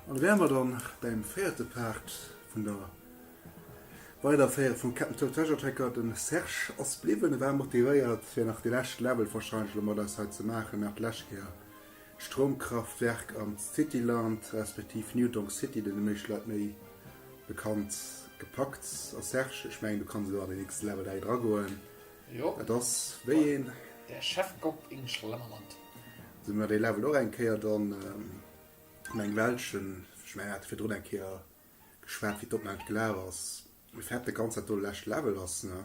An da wäre mer dann beim véierte Part vun der Weiderféierung vum Captain Toad Treasure Tracker. De Serge ass bliwwen, e war motivéiert fir nach déi lescht Level wahrscheinlech elo mat eis hei ze maachen, nach déi lescht Kéier Stroumkraftwerk an d'Cityland, respektiv New Donk City, den de meeschte Leit méi bekannt, gepackt. A Serge, ech mengen du kanns elo an den nächste Level dei dra goen. Jo. Et ass wéi een. Der Chefkoch in Schlemmerland. Sou mir dee Level och eng Kéier dann an engem welschen, ech mengen mir hate virdrun eng Kéier geschwat wéi d'Opnam gelaf ass, wéi fett de ganz dat do lescht Level ass, ne?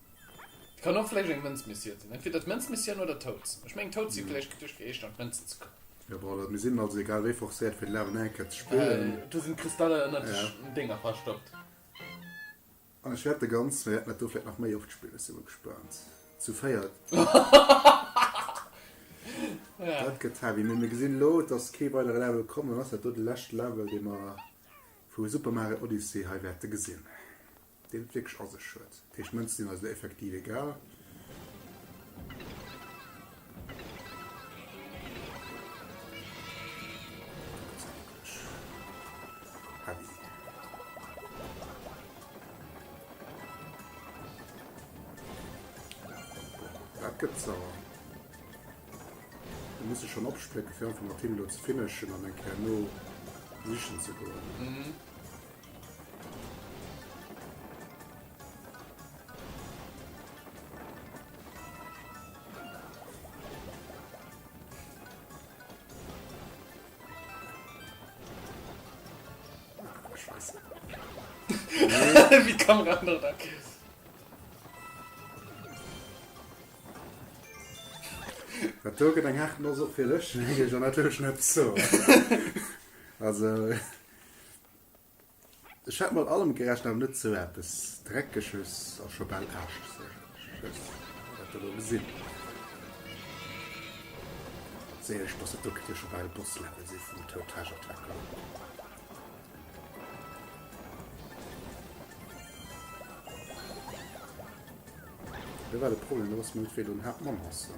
Et kann och vläicht eng Mënzmissioun sinn. Entweder d'Mënzmissioun oder d'Hoaxen. Ech mengen d'Hoaxen vläicht gëtt duerch geicht an d'Mënzen ze kommen. Jo bon, also mir sinn also egal wéi forcéiert fir den Lawen nach eng Kéier ze spillen. Do sinn d'Kristaller ënnert de Dénger verstoppt. An ech wäert de ganz, mir wäerten dat do vläicht nach méi oft spillen, ech si mol gespaant. Zu véiert, dat gëtt heavy. Mee mir gesinn elo, et ass kee weidere Level komm, dann ass dat do de leschte Level, dee mer vu Super Mario Odyssey hei wäerte gesinn. deen et wierklech a sech huet. D'Héichmënze sinn eis elo effektiv egal. Schon opsplécken, fir einfach mat him elo ze finishen an eng Kéier no sichen ze goen. Wie kann ran da kiss? Dat doge deng Hart no so fir lech, jo natierlech net zo. Also. Ech hätt mat allem gerechent, awer net sou eppes Dreckeges a scho bal Aarschsëches. Mä dat elo gesin séier ech, dass dat do kéint jo scho bal e Boss-Level si vum Tour Tage Attacker. Lo war de Problem, dass mer net wéi do den Haaptmonster.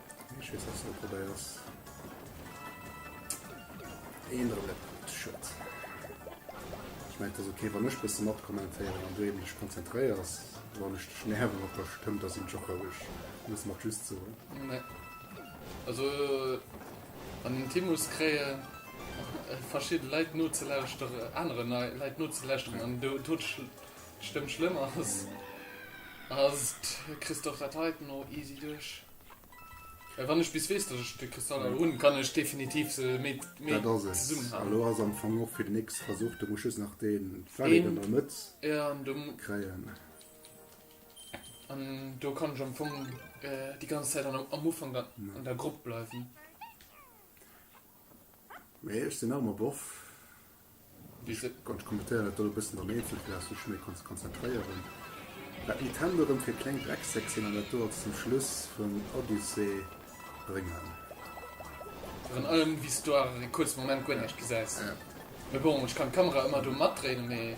Ech weess ass net wat dei ass. Een oder net gut schëtt. Ech meint ass okay wann ech bësse mat kommentéieren an du eben dech konzentréiers wann ech dech nerven op der Stëmm da sinn ech och roueg. Du muss mat just soen. Nee. Also an den Timus kréien verschidde Leit nozelauschtere anere nei Leit nozelauschteren an do do d'Stëmm schlëmm ass. Ass kriss de och dat heiten och easy duerch. Wann ech bis wees dat ech de Kristaller hun kann ech definitiv se méi zesummen halen. Elo ass am Fong och fir den nächste Versuch, do muss just nach den Fallek an der Mëtt kréien. An do kann ech am Fong déi ganz Zäit am Ufank an der Grupp bleiwen. Mee ech sinn nach ëmmer Boff. Ech kommentéieren dat do e bëssen an eenzel, fir dass du dech méi kanns konzentréieren. Dat Nintendo erëm fir kleng Drecksäck sinn an dat do als den Schluss vun Odyssey bréngen. Virun allem wéi s du awer fir e kuerze Moment guer näischt gesäis. Mee bon, ech kann d'Kamera ëmmer do matdréinen, mee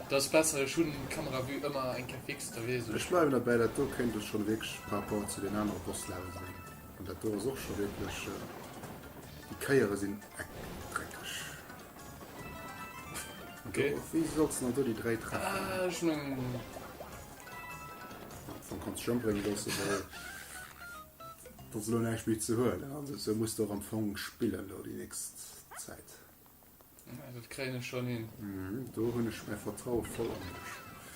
dat ass besser. Ech hunn d'Kameravue ëmmer eng Kéier fix, da weess Ech ech. bleiwen derbäi, dat do kéint ech schonn wierklech par rapport zu den anere Boss-Levelen an dat do ass och scho wierklech, déi Kéiere sinn Okay. Do, wéi sollst du do die drei treffen? Ah, ich mein... Du kannst schon bringen, dass du da... Das lohnt echt wie zu hören. Also, so musst du auch am Fong spielen, da die nächste Zeit. Ja, das kriegen wir schon hin. Mhm, da habe ich mehr Vertrauen voll an dich.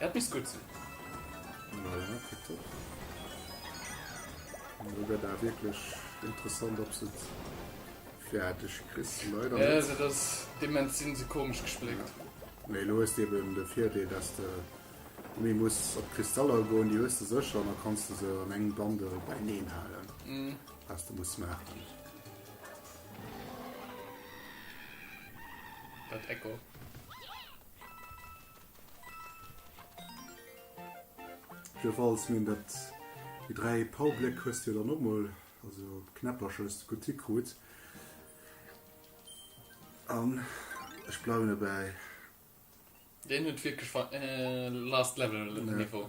Dat misst gutt sinn. Naja, kuckt och. Elo wär dat wierklech interessant, ob se et fäerdeg kriss. Leider net. Also dass déi Mänz sinn se komesch gespléckt. Mee elo hues de eben de Virdeel, dass de méi muss op d'Kristaller goen. Déi hues de sécher an da kanns de se an engem Bundle bäineen halen, wat de muss maachen. Dat Echo. Jo falls mir dat déi 3 Powerbléck hues jo dann och mol also Knäppercher hues de gutt hikrut an ech bleiwen dobäi. Deen huet wierklech ver last level niveau.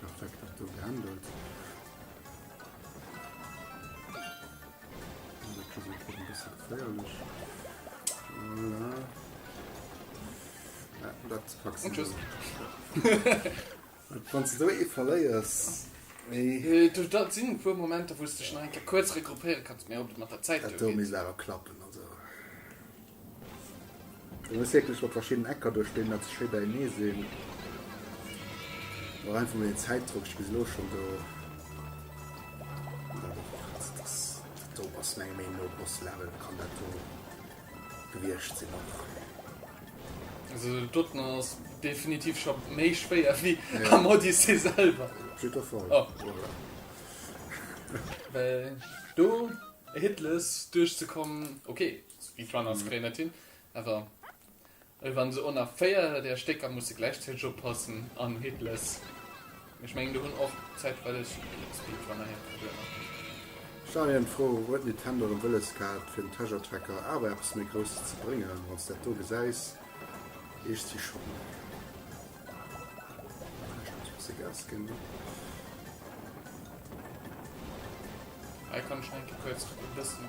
Perfekt dat do gehandelt. geféierlech. Dat Wann ze do e verléiers. Du dat sinn puer Momenter wouste schneike kuerz regroupéiere kanns mé op mat der Zäit. Dat do mis awer klappen. Du hues wierklech mat verschiddenen Ecker duerch deen dat se schéi beienee sinn. War einfach mol den Zäitdrock, ech bis elo schon do. Do ass meng Meenung no Boss Level kann dat do gewierscht sinn och. Also den doten ass definitiv scho méi schwéier wéi am Odyssee selwer. True or false? Oh. Well do hitless duerchzekommen, okay. Speedrunner ass fréi net hin, awer elo wann se onnach 4 där Stécker musse gläichzäiteg oppassen an Hitless, ech mengen do hunn och zäitweileg Speedrunner hir Problemer. Schnell erëm d'Fro, Huet Nintendo erëm wëlles gehat fir den Treasure Tracker awer eppes méi Grousses ze bréngen? Wann s dat do gesäis, ech si schonn um Wee. Hei kann ech nach eng Kéier kuerz e bëssen.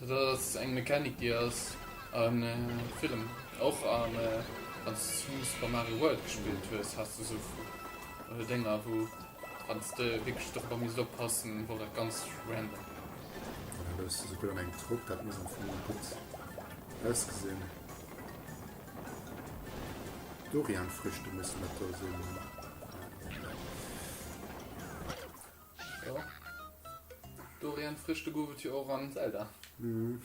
Dat ass eng Mechanik déi ass a villen och an wanns du Super Mario World gespillt hues has de sou Dénger wou wanns de wierklech dorobber misst oppassen wor dat ganz random. Voilà do hues de sou gutt an engem Trupp, dat muss am Fong och gutt ausgesinn. Dorian Früchte mussen dat do sinn. Jo. Dorian frisch de gouf et jo och an Zelda. Mhm.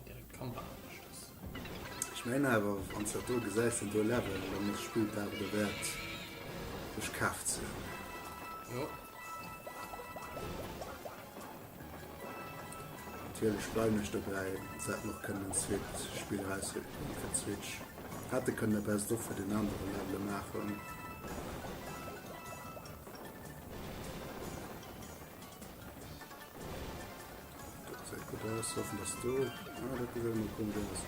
Direkt d'Kamera anescht ass. Ech mengen awer wanns dat do gesäis den do Level, dann ass d'Spill et awer derwäert sech kaf ze hunn. Jo. Natierlech bleiwen ech dobäi, se hätten och kënnen en zweet Spill erauswickelen fir d'Switch, hätte kënnen e Best of fir den anere Levele maachen. Dat gesäit gutt aus, hoffen dass do, ah, dat gesäit emol komesch aus.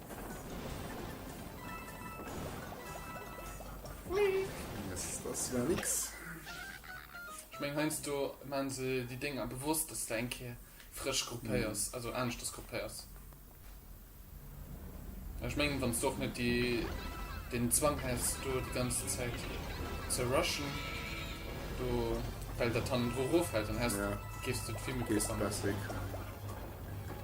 Ech meng heiansdo man se déi Dénger bewosst, dass de eng Kéier frësch grupéiers, also aneschters grupéiers. Mä ech mengen, wann s de och net déi, deen Zwang häss, do déi ganz Zäit ze rushen, do, well dat hannendru eroffält, dann häss, géifs de et vill méi besser maachen.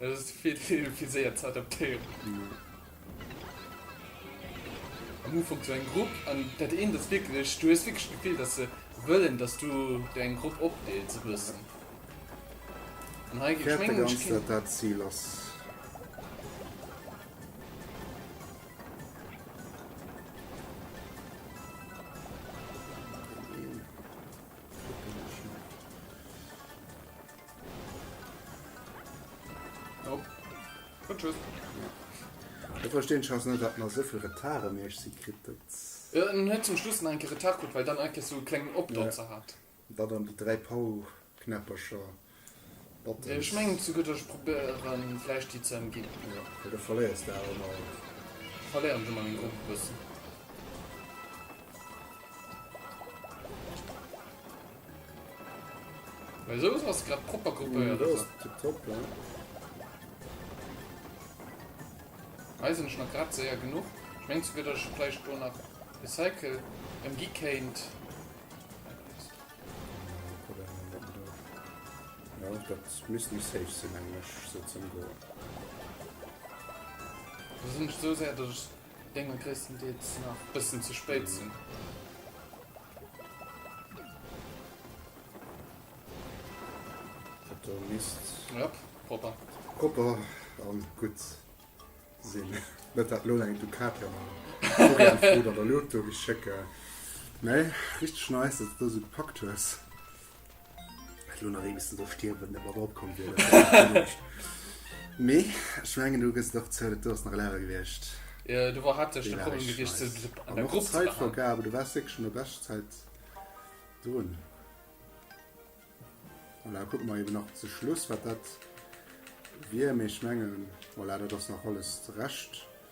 Et ass vill ze vill fir séier ze adaptéieren. Am Ufank sou eng Grupp an dat eent ass wierklech, du hues wierklech d'Gefill, dass se wëllen, dass du der eng Grupp opdeels e bëssen. An hei ginn, ech mengen, ech keen. Wäert dat dat Zil ass? Nope. Und tschüss. Ech verstinn just net, wat mer souvill Retard ëm Iech si kritt. Jo, en huet zum Schluss nach eng Kéier Retard kritt, well dann eng Kéier esou e klengen Opdotzer hat. Wat an déi dräi Power-Knäppercher, Buttons. Ech mengen zu gutt, ech probéiere vläicht déi ze ëmginn. Jo, well do verléiers de awer emol alles. Verléieren ech emol meng Grupp e bëssen. Well sou ass grad propper gruppéiert. Dat ass tiptop, ja. Hei sinn ech nach grad séier genuch. Ech mengen souguer, datt ech vläicht do nach e Cycle ëmgi kéint. Jo, dat misst méi safe sinn, mengen ech, sou ze ëmgoen. Do sinn ech esou séier, datt ech Géinge gréisstendeels nach bëssen ze spéit sinn. Do misst. Jop, propper. Propper an gutt sinn. Net dat lo eng Ducati an der Foto oder Loto geschécke. Nee, richteg nice, dass du dës esou gepackt hues. Ech lo nach ee bessen do stierwen, dat mat opkomm wier. Mee ech mengen du gëss et och zou, dat do ass nach Lehrer gewiescht. Äh, do war haaptsächlech de Problem gewiescht, ze dritt an der Grupp ze maachen. An och d'Zäitvergabe, du waars wierklech an der Beschtzäit drun. Voilà, kucke mer eben nach zu Schluss, wat dat wier. Mee ech mengen, voilà, dat ass nach alles de Rescht.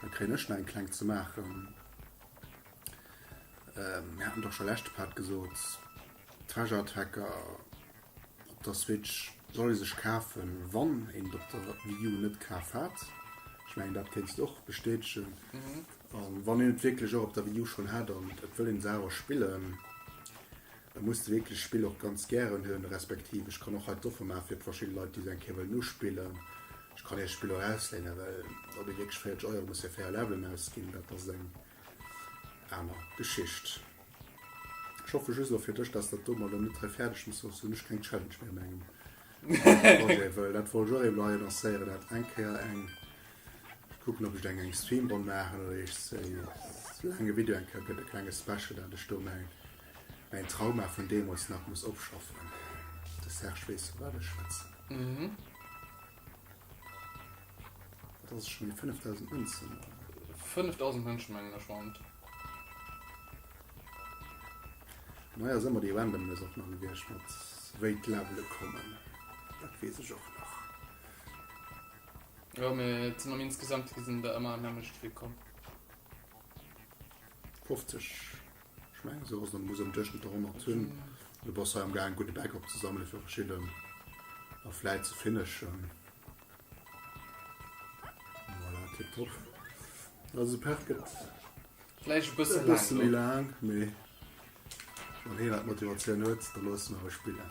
Da kréien ech nach eng kleng ze maachen. Mir haten doch scho leschte Part gesot, Treasure Attacker op der Switch soll ee sech kafen, wann een et op der Wii U net kaf hat. Ech mengen, dat kéints de och bestätegen. A wann een et wierklech och op der Wii U schonn hat an et wëll een se awer spillen, E muss d'wierklecht Spill och ganz gären hunn, respektiv ech kann och hei d'Offer maachen fir verschidde Leit, déi se eng Kéier wëllen uspillen, ech kann Iech d'Spill och ausléinen, well ob ee wierklech 40 Euro muss fir 4 Levelen ausginn, dat ass eng aner Geschicht. Ech hoffe just elo fir dech, dass dat do mol elo net hei fäerdeg muss, soss hunn ech keng Challenge méi a mengem Projet, wëll dat wollt ech och emol hei annoncéieren, dat eng Kéier eng, ech kucken, ob ech eng eng Streamronn maachen oder iech se laange Video eng Kéier gëtt, e klenge Special, dat ech do meng. Mäin Trauma vun deemols nach muss opschaffen. De Serge weess vu wat ech schwätzen. Mhm. Dat ass schon déi 5000 Mënzen. 5000 Mënschen mengen ech waren et. An hei ass ëmmer déi Randomness och nach gewiescht mat wéi d'Levele kommen. Dat weess ech och nach. Jo, mee et sinn am Insgesamte gesinn der ëmmer am nämmlechte Flick komm. 50. Ech mengen esou ass et an muss am Duerchschnëtt der 100 hunn. Du bass hei am gaang gudde Back op ze sammele fir verschidden a vläit ze finishen. Voilà, tip top. Also de Part gëtt vläicht e bësse laang. E bësse méi laang, mee wann een dat Motivatioun huet, da loosse mer e spillen.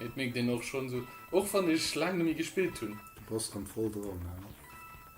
Et mierkt een och schon esou, och wann ech laang nemmi gespillt hunn. Du bass rem voll dran, ja.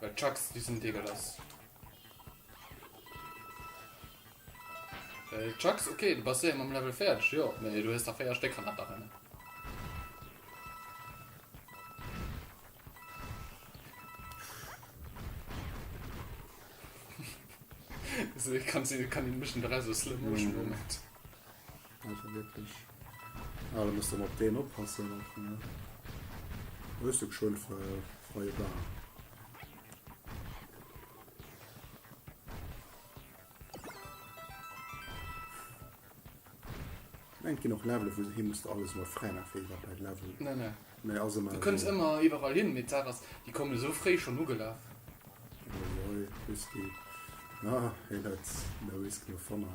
Well Chucks déi sinn deegelass. Well Chucks, okay, du bass séier mam Level fäerdeg, jo, mee du hues der 4 Stéck hanner der rennen. Kannst du kann den Mission 3 so Slow Motion Moment. Mm. Einfach wirklich. Ah, da muss dann op deen oppassen och, ne? Wësst du geschwënn ver freie Bahn. Eng ginn och Level, wou du hin musst alles mat frei nach fir bei Level. Ne, ne. Nee, also Du kënns ëmmer iwwerall hin, mee d'Saach ass, déi komme sou fréi schonn ugelaf. Oi, oi, Whisky. Ah, hei dat no Whisky no Fanta.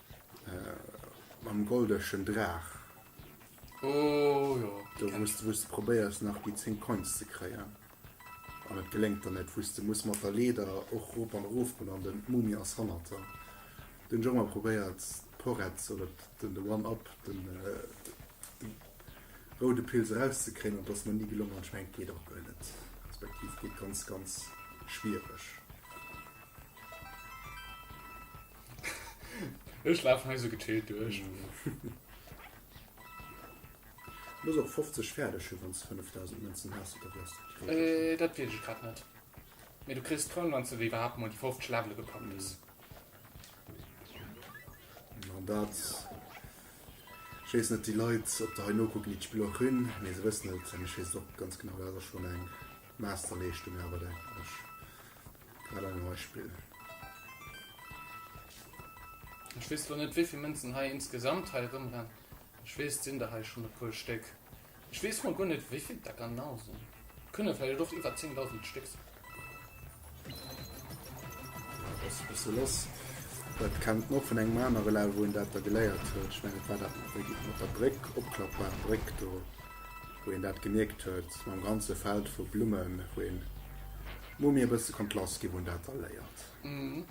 Mam goldeschen Draach. Oh jo. Do muss du wou's du probéiers nach déi 10 Coins ze kréien. An et geléngt der net, wou's du muss mat der Leeder och rop an erof goen an den d'Mumie ass hannert der. Do hunn ech och mol probéiert d'Poretz oder den de One Up, den de roude Pilz eraus ze kréien an et ass mer ni gelongen an ech mengen et geet och guer net, respektiv geet ganz ganz schwiereg. Ech laf hei sou gechillt duerch. Muss och 50 färdeg hun wanns 5000 Mënzen has oder wéi's dat gereegelt hun? Äh dat wees ech grad net. Mee du kriss d'Kroun wanns de iwwerhaapt mol déi 50 Levele gepackt hues. An dat, ech wees net déi Leit op der hei nokucken déi d'Spill och hun, mee se wëssen et an ech wees et och ganz genau, dat ass schon eng Masterleeschtung awer denken ech. Grad ein Beispill. Ech wees lo net wéivill Mënzen hei insgesamt hei erëmrennen. Ech wees et sinn der hei schon e puer Stéck. Ech wees mol guer net wéivill et der ganau sinn. Et kënne vläicht och iwwer 10.000 Stéck sinn. Ass e bësse lass. Dat kennt mer och vun engem anere Level wou een dat da geléiert huet. Ech mengen et war dat mat der mat der Bréck, opklappbar Bréck do wou een dat gemierkt huet mam ganze Feld vu Blummen wou een Hu mir e bësse konnt lass ginn, hunn dat da léiert. Am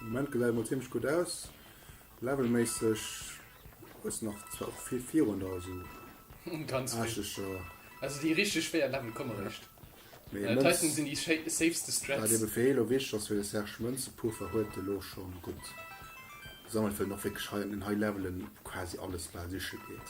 Moment gesäit et mol zimmlech gutt aus. Levelméisseg ass nach zwar och vill virun der esou Ganz vill. aascheger. Also déi richteg schwéier Level komme eréischt. Mee ee Äh, d'heiten Mënz, sinn déi scha safeste wat Strats. ebe fir elo wichteg ass fir de Serge, Mënzepuffer huet e lo scho gutt gesammelt, well en och wierklech hei an den High Levelen quasi alles bal siche geet.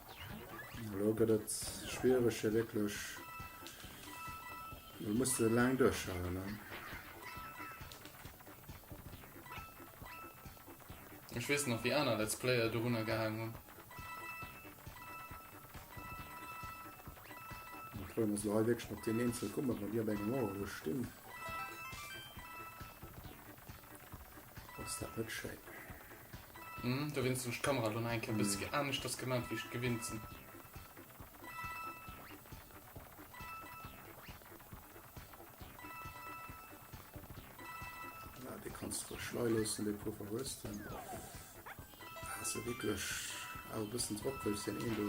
Elo gëtt et schwiereg hir wierklech. Lo muss se laang duerchhalen. Ne? Ich wees nach wie aner Let's Player do runnner gehagen hunn. Pro muss lo wegg op den Eenzel kummer, wann Dir op engem Mauer stinn. Ass dat net schéin! Hm, dowéinst hun ech d'Kamera lo nach eng Kéier bëssi aneschters gemat wéi ech et gewinnt sin. Ja, dee kanns de rech lei loossen, dee Puffer hues de. Ass se wierklech awer bëssen drop, wëll ech deen een do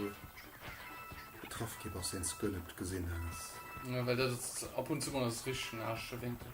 getraff gi bass, deen s de guer net gesin has? Jo, well dat ass, ab und zu mol ass et richteg den aneschte Wénkel.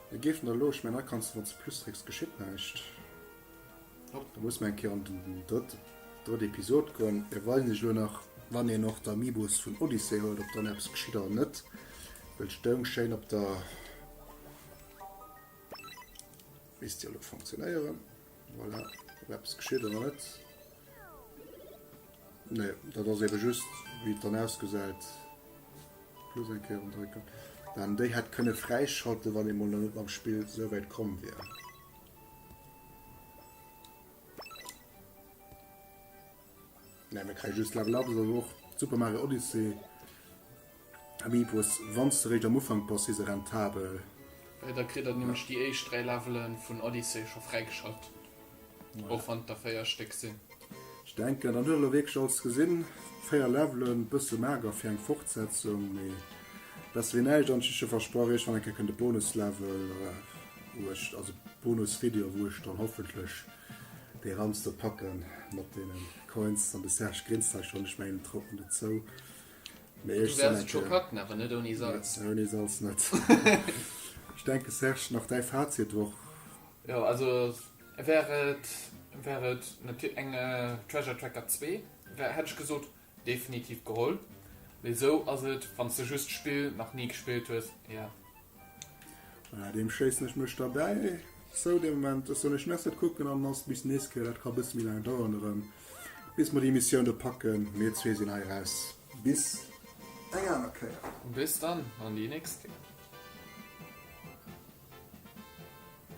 Ech géif der elo, ech mengen, da kanns de, wann s de Plus drécks, geschitt näischt. Hopp. Da muss mer eng Kéier an den drëtt, drëtt Episod goen. Ech weis lech elo nach, wann een och d'Amiibos vun Odyssey huet, ob dann eppes geschitt oder net, well et stoung schéin op der. Misst jo elo funktionéieren. Voilà, ob eppes geschitt oder net. Nee, dat ass eben just wéi et dann ausgesäit. Plus eng Kéier undrécken. Mä en déi hätt kënne fräischalten, wann ee mol nach net mam Spill souwäit komm wier. Nee, mir kréie just Level Up, ass awer och d'Super Mario Odyssey Amiibos. Wann s de eréischt am Ufank bass, si se rentabel. Jo, da kritt der nämlech déi éischt dräi Levele vun Odyssey scho fräigeschalt, och wann et der véier Stéck sinn. Ech denken, dann huet elo wierklech alles gesinn. Véier Levelen, bësse mager fir eng Fortsetzung, mee besser wéi näischt. An ech hu scho versprach, iergendwann eng Kéier kënnt e Bonuslevel, wou ech, also Bonusvideo, wou ech dann hoffentlech. Dee Ramster packen mat deenen Coins an de Serge grinst hei schon, ech mengen en traut mer net zou. Mee ech sen eng Kéier. Ouni Salz net. Ech denken Serge, nach däi Fazit d'Woch? Jo also wär et wär et natierlech eng Treasure Tracker 2 wär hätt ech gesot Definitiv geholl, mee sou ass et wanns de just d'Spill nach ni gespillt hues, yeah. Bei deem schéissen ech mech derbäi zou dee Moment. Ech soen iech Merci fir d'Kucken an ass bis nächst Kéier. Dat ka bësse méi laang daueren erëm, bis mer déi Missioun do packen. Mir zwee sinn hei raus. Bis eng aner Kéier. Bis dann, an déi nächst Kéier.